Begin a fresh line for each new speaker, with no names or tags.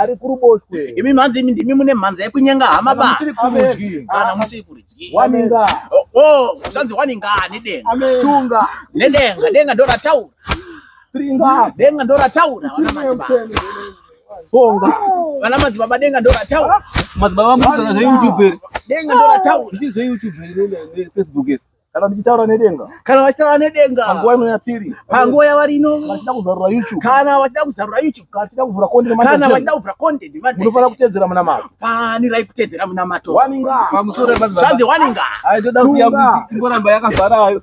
ari
kuruboshwe imi mhanzi imi ndimi mune
mhanza yekunyenga hama ba kana musiri kurudyi waninga
oh, oh zvanzi
waninga nedenga tunga
nedenga denga ndo
rataura tringa
denga ndo
rataura vana madzibaba bonga
vana
madzibaba denga ndo rataura madzibaba musana
zve youtube denga ndo rataura
ndizve youtube
ne facebook kana ndichitaura nedenga kana vachitaura nedenga
panguva ino yatiri
panguva yavari ino
vachida kuzarura youtube
kana vachida kuzarura
youtube kana vachida kuvhura content kana
vachida kuvhura
content munofanira kutedzera munamato
fanirai kutedzera
munamato waninga
pamusoro pa
zvanzi
waninga aitoda kuti yakuti ingoramba yakazara ayo